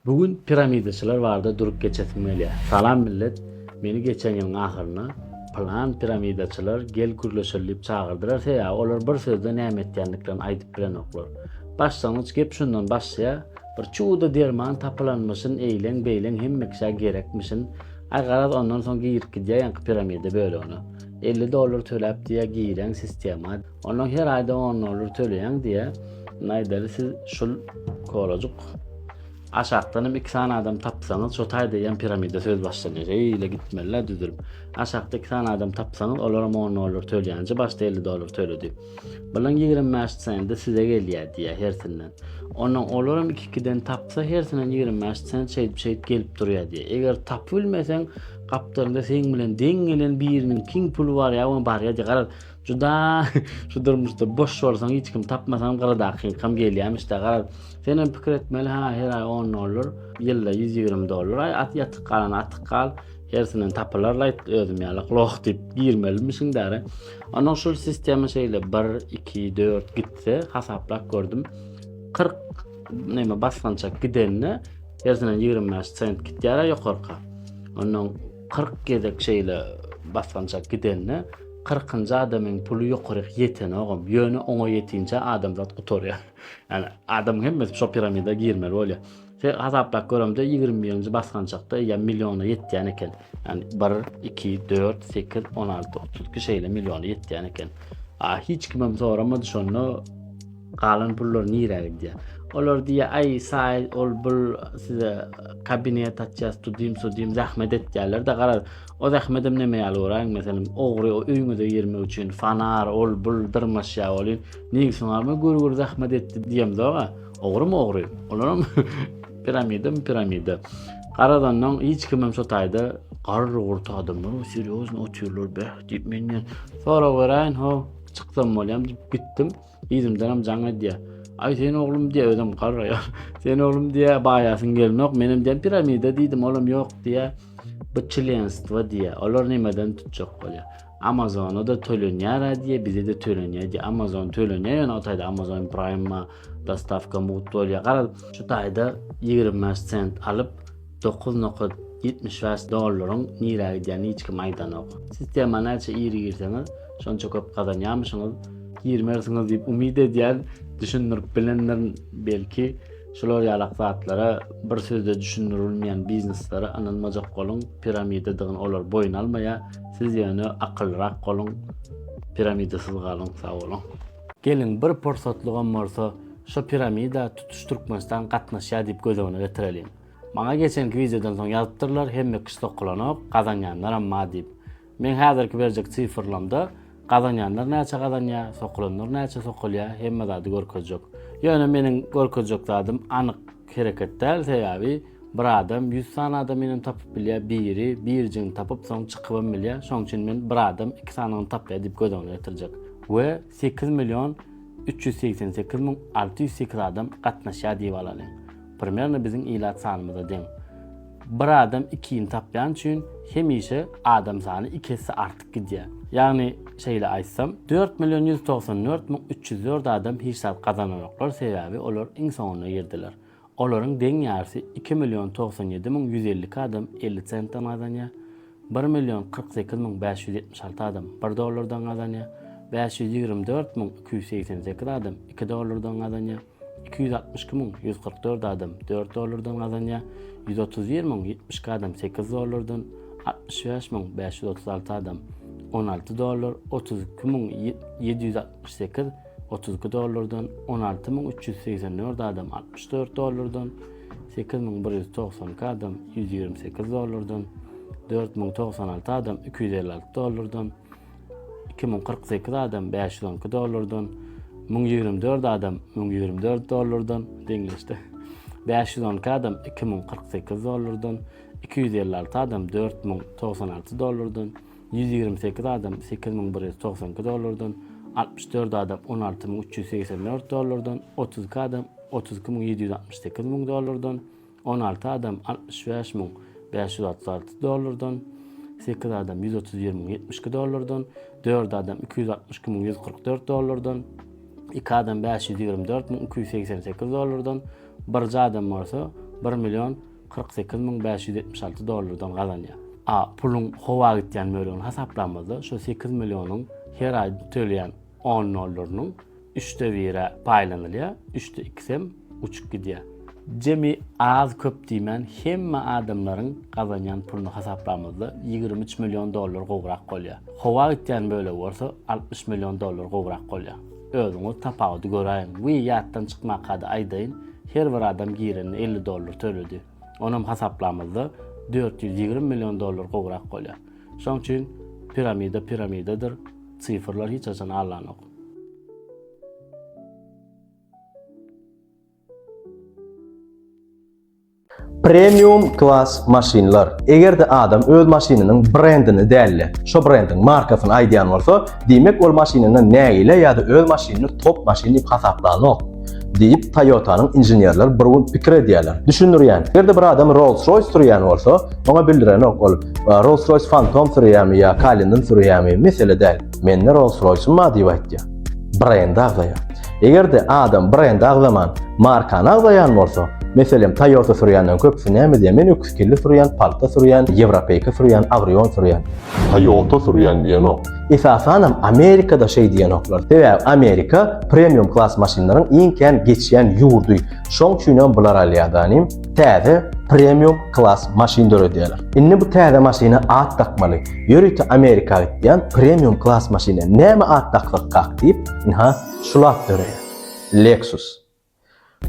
Bu gün piramidaçylar barada durup geçesim gelýä. Salam millet, meni geçen ýylyň ahyrynda Plan piramidaçylar gel gürleşeli diýip çagyrdylar sebäbi olar bir sözde näme etýändiklerini aýdyp bilenoklar. Başlangyç gep şundan başlaýar, bir çuwda derman tapylanmyşyn eýleň beýleň hemme kişä gerekmişin, aý garaz ondan soň girip gidýär ýaňky piramida bölegine. Elli dollar töläp diýýär giräň sistema. Ondan her aýda on dollar töleýäň diýýär. Indi aýdaly siz şul kolajuk aşakdanam iki sany adam tapsaňyz, şo taý diýen piramida söz başlanýar. Eýle gitmeliler düzülip. Aşakda iki sany adam tapsaňyz, olaram on dollar töleýänçe başda elli dollar töledi. Bilen ýigrimi bäş sende size gelýär diýýär hersinden. Ondan olaram iki-ikiden tapsa hersinden ýigrimi bäş sen şeýdip şeýdip gelip durýar diýýär. Eger tapyp bilmeseň, gapdalynda seň bilen deň gelen biriniň kiň puly bar ýa-da barýar diýýär. Juda şu durmuşda boş bolsaň hiç kim tapmasaň gyradakyňkam gelýämişde garaz. Sen hem pikir etmeli ha her aý 10 dollar, ýylda 120 dollar aý at ýatyk galan atyk gal. Hersinden tapylar laýt özüm ýaly gloh diýip girmelimiň däre. Onuň şu sistema şeýle 1 2 4 gitse hasaplap gördüm. 40 näme basgançak gidende hersinden 25 sent gitýär ýokarka. Onuň 40 gezek şeýle basgançak gidende Kyrkynjy adamyň puly ýokaryk ýetenogam, ýöne oňa ýetinçä adamzat gutarýar. Ýani adamyň hemmesi şo piramida girmeli bolýar. Sen hasaplap göremde ýigrimi birinji basgançakda eýýäm milliona ýetýän eken. Ýani bir, iki, dört, sekiz, on alty, otuz iki şeýle milliona ýetýän eken. A hiç kimem soramady şonda galan pullar nirä gidýär. Olar diýýär, aý saý ol bul size kabinet açýas, tudym-sudym zähmet etýärler-de garaz O zähmedem neme ýaly göräýiň, meselem, ogry o öýüňize girmek üçin fanar, ol, bul dyrmaşýar welin, neýwsiň alma gür-gür zähmet etdi diýemzog-a. Ogrymy ogry. Olaram piramidami piramida. Garadandan hiç kimem şo taýda garry-gurty adamlar o serýozny otyrlar beh diýip menden sorag beräýin, ho, çyksam bolýam diýip gitdim. Yzymdanam jaň edýär. Aý sen oglum diýýär, özem garraýar. Sen oglum diýýär, baýasyň gelnok, menem diýýär piramida diýdim, olam ýok diýýär. Bu çlenstwo diýýär. Olar nämeden tutjak bolýar? Amazona-da tölenýär diýýär, bize-de tölenýär diýýär. Amazon tölenýär, ýöne o taýda Amazon Prime-a dostawka mugt bolýar. Garaz, şu taýda 25 sent alyp, Dokuz nokat ýetmiş bäş dollaryň nirä gidýänini hiç kim aýdanok. Sistema näçe iri girseňiz, şonça köp gazanýarmyşyňyz. Girmersiňiz diýip umyt edýän, düşündirip bilendir belki. Şular ýalak zatlara, bir sözde düşündirilmeýän bizneslara ynanmajak boluň, piramidadygyny olar boýun almaýar. Siz ýöne akyllyrak boluň, piramidasyz galyň. Sagboluň. Geliň bir pursatlygam bolsa şo piramida tutuş Türkmenistan gatnaşýar diýip göz öňüne getireliň. Maňa geçenki wideodan soň ýazypdyrlar hemme kişi sokulanok gazanýanlar amma diýip. Meň häzirki berjek sifrlamda gazanýanlar näçe gazanýar, sokulanlar näçe sokulýar hemme zady görkezjek. Ýöne meniň görkezjek zadym anyk hereket däl sebäbi bir adam ýüz sany adam ýene tapyp bilýär biri birjigini tapyp soň çykybam bilýär şoň üçin men bir adam iki sanyny tapýar diýip göz öňüne getirjek we sekiz million üç ýüz segsen sekiz müň alty ýüz sekiz adam gatnaşýar diýip alalyň Primerno biziň ilat sanymyza deň. Bir adam ikini tapýan üçin hemişe adam sany iki esse artyk gidýär. Ýagny şeýle aýtsam, dört million ýüz togsan dört müň üç ýüz dört adam hiç zat gazananoklar sebäbi olar iň soňunda girdiler. Olaryň deň ýarsy iki million togsan ýedi müň ýüz elli iki adam elli sentden gazanýar, bir million kyrk sekiz müň bäş ýüz ýetmiş alty adam bir dollardan gazanýar, bäş ýüz ýigrimi dört müň iki ýüz segsen sekiz adam iki dollardan gazanýar. Iki ýüz altmyş iki müň ýüz kyrk dört adam dört dollardan gazanýar, ýüz otuz bir müň ýetmiş iki adam sekiz dollardan, altmyş bäş müň bäş ýüz otuz alty adam on alty dollar, otuz iki müň ýedi ýüz altmyş sekiz otuz iki dollardan, on alty müň üç ýüz segsen dört adam altmyş dört dollardan, sekiz müň bir ýüz togsan iki adam ýüz ýigrimi sekiz dollardan, dört müň togsan alty adam iki ýüz elli alty dollardan, iki müň kyrk sekiz adam bäş ýüz on iki dollardan, müň ýigrimi dört adam müň ýigrimi dört dollardan deňleşdi. Bäş ýüz on iki adam iki müň kyrk sekiz dollardan, iki ýüz elli alty adam dört müň togsan alty dollardan, ýüz ýigrimi sekiz adam sekiz müň bir ýüz togsan iki dollardan, altmyş dört adam on alty müň üç ýüz segsen dört dollardan, otuz iki adam otuz iki müň ýedi ýüz altmyş sekiz müň dollardan, On alty adam altmyş bäş müň bäş ýüz otuz alty dollardan, sekiz adam ýüz otuz bir müň ýetmiş iki dollardan, dört adam iki ýüz altmyş iki müň ýüz kyrk dört dollardan, iki adam bäş ýüz ýigrimi dört müň iki ýüz segsen sekiz dollardan, birje adam bolsa bir million kyrk sekiz müň bäş ýüz ýetmiş alty dollardan gazanýar. A puluň howa gitýän bölegini hasaplamazda, şol sekiz millionyň her aý töleýän on dollarynyň Üçde bire paýlanylýar, üçde ikisem uçup gidýär. Jemi az-köp diýmän hemme adamlaryň gazanýan puluny hasaplamyzda ýigrimi üç million dollar gowrak bolýar. Howa gitýän bölegi bolsa altmyş million dollar gowrak bolýar. Özüňiz tapawudy göräýiň. Wiý, ýatdan çykmakada aýdaýyn, her bir adam girende elli dollar töledi. Onam hasaplamyzda dört ýüz ýigrimi million dollar gowrak bolýar. Şonuň üçin piramida piramidadyr, sifrlar hiç haçan allanok. Premium klas maşynlar. Eger-de adam öz maşynynyň brendini däl-de, şo brendiň markasyny aýdýan bolsa, diýmek ol maşynyny nägile ýa-da öz maşynyny top maşyn diýip hasaplanok. Diýip, Toyota-nyň inženerleri bir gün pikir edýärler. Düşündirýän, eger-de bir adam Rolls-Royce sürýän bolsa, oňa bildirenok ol Rolls-Royce Phantom sürýärmi ýa Cullinan sürýärmi, mesele däl. Mende Rolls-Royce-um bar diýip aýtýar. Brendi agzaýar. Eger-de adam brendi agzaman, markany agzaýan bolsa, meselem, Toyota sürýänden köpüsi näme diýýär? Men öküzkilli sürýän, palta sürýän, ýewropeýka sürýän, Avrion sürýän. Toyota sürýän diýenok. Esasanam Amerikada şeý diýenoklar. Sebäbi Amerika premium klass maşynlaryň iň kän geçýän ýurdy. Şoň üçinem bular alýar-da, inim. täze premium klass maşyn döredýärler. Indi bu täze maşyna at dakmaly. Ýörite Amerika gitýän premium klass maşyna näme at daksak kak diýip, ynha şul at döreýär. Lexus.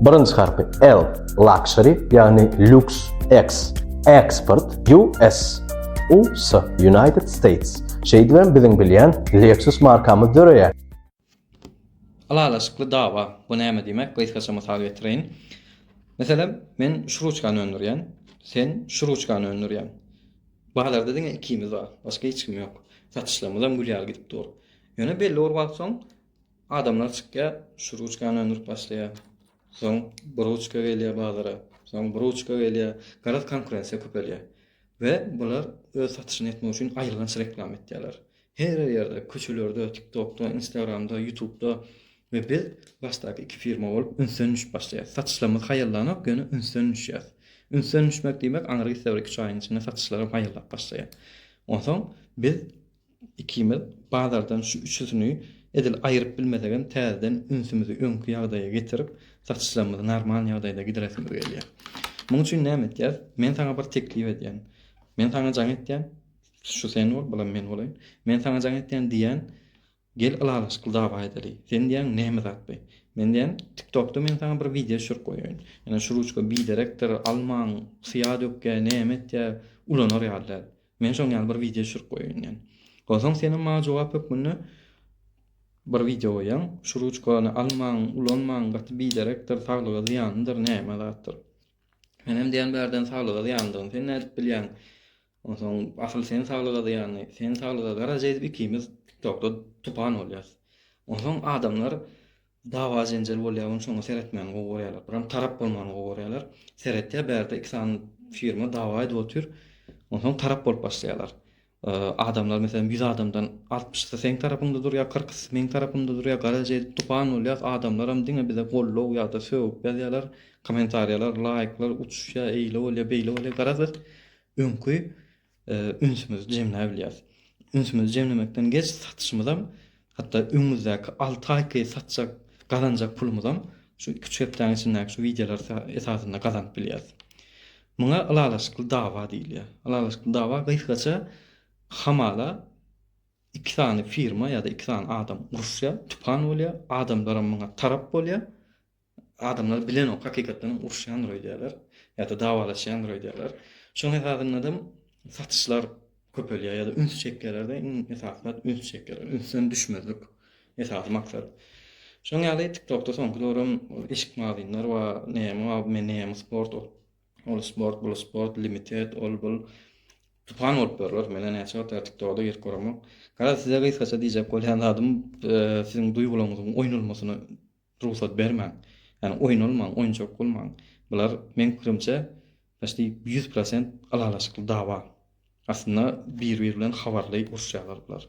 Birinji harpy L, luxury, ýagny lux, X, export, US, US, United States. Şeýdibem biziň bilýän Lexus markamyz döreýär. Ylalaşykly dawa, bu näme diýmek, gysgaça mysal getireýin. Meselem, men şu ruçkany öndürýän, sen şu ruçkany öndürýäň. Bazarda diňe ikimiz bar, başga hiç kim ýok. Satyşlarymyzam gül ýaly gidip dur. Ýöne belli bir wagt soň adamlar çykýar, şu ruçkany öndürip başlaýar. Soň bu ruçka gelýär bazara, soň bu ruçka gelýär. Garaz, konkurensiýa köpelýär we bular öz satyşyny etmek üçin aýylganç reklama etýärler. Her ýerde köçelerde tiktokda instagramda ýutubda we biz başdaky iki firma bolup ünsden düşüp başlaýas satyşlarymyz haýallanok ýöne ünsden düşýäs ünsden düşmek diýmek aňry gitse bir iki üç aýyň içinde satyşlarym haýallap başlaýar onsoň biz ikimiz bazardan şu üçüsini edil aýyryp bilmesegem täzeden ünsümizi öňki ýagdaýa getirip satyşlarymyzy normal ýagdaýda gidiresimiz gelýär muň üçin näme etýäs men saňa bir teklip edýän men saňa jaň etýän Şu sen bol, bulam men bolaýyn. Men saňa jaň etýän diýýän, gel ylalaşykly dawa edeli. Sen diýýäň näme zat bi? Men diýýän, TikTokda men saňa bir wideo düşürip goýaýyn. Ýöne şu ruçka biderekdir, almaň, syýa dökýär, näme etýär, ulanar ýaly däl. Men şoň ýaly bir wideo düşürip goýaýyn diýýän. Onsoň senem maňa jogap hökmünde bir wideo goýýaň, şu ruçkany almaň, ulanmaň, gaty biderekdir, saglyga zyýanlydyr, näme zatdyr. Menem diýýän bärden saglyga zyýanlydygyny sen nädip bilýäň? Onsoň asyl sen saglyga zyýanly, sen saglyga gara jeýdip ikimiz tiktokda tupan bolýas. Onsoň adamlar dawa jenjel bolýa ony şoňa seretmäni gowy görýäler. Biram tarap bolmany gowy görýäler. Seretýä bärde iki sany firma dawa edip otyr. Onsoň tarap bolup başlaýalar. Adamlar meselem ýüz adamdan altmyşysy seň tarapyňda durýa kyrkysy meň tarapymda durýa gara jeýdip tupan bolýas adamlaram diňe bize gollow ýada sögüp ýazýalar komentarýalar laýklar uçuşýa eýle bolýa beýle bolýa garaz biz öňki ünsümizi jemläbilýäris. Ünsümizi jemlemekden geç satyşymyzam, hatda öňümizdäki alty aýky satjak, gazanjak pulumyzam şu iki-üç hepdäniň içindäki şu wideolar esasynda gazanyp bilýäris. Muňa ylalaşykly dawa diýilýär. Ylalaşykly dawa gysgaça hamala iki sany firma ýa-da iki sany adam uruşýar, tüpan bolýar, adamlaram muňa tarap bolýar. Adamlar bilenok hakykatdanam uruşýandyr öýdýärler ýa-da dawalaşýandyr öýdýärler. Şoň esasyndadam satyşlar köpelýär ýa-da üns çekýärler-de, iň esasy zat üns çekýärler. Ünsden düşmezlik esasy maksat. Şoň ýaly TikTokda soňky döwrem eşik magazynlar bar, näme bar, men näme sport ol, ol sport, bul sport, limited, ol, bul. Tupan bolup ýörler. Men-ä näçe wagt ýaly TikToga-da girip göremok. Garaz, size gysgaça diýjek bolýan zadym, siziň duýgularyňyzyň oýnalmasyna Rugsat bermäň. Ýani oýnalmaň, oýunjak bolmaň. Bular meň pikirimçe paçti ýüz prosent ylalaşykly dawa. Aslynda bir bir bilen habarly uruşýarlar bular.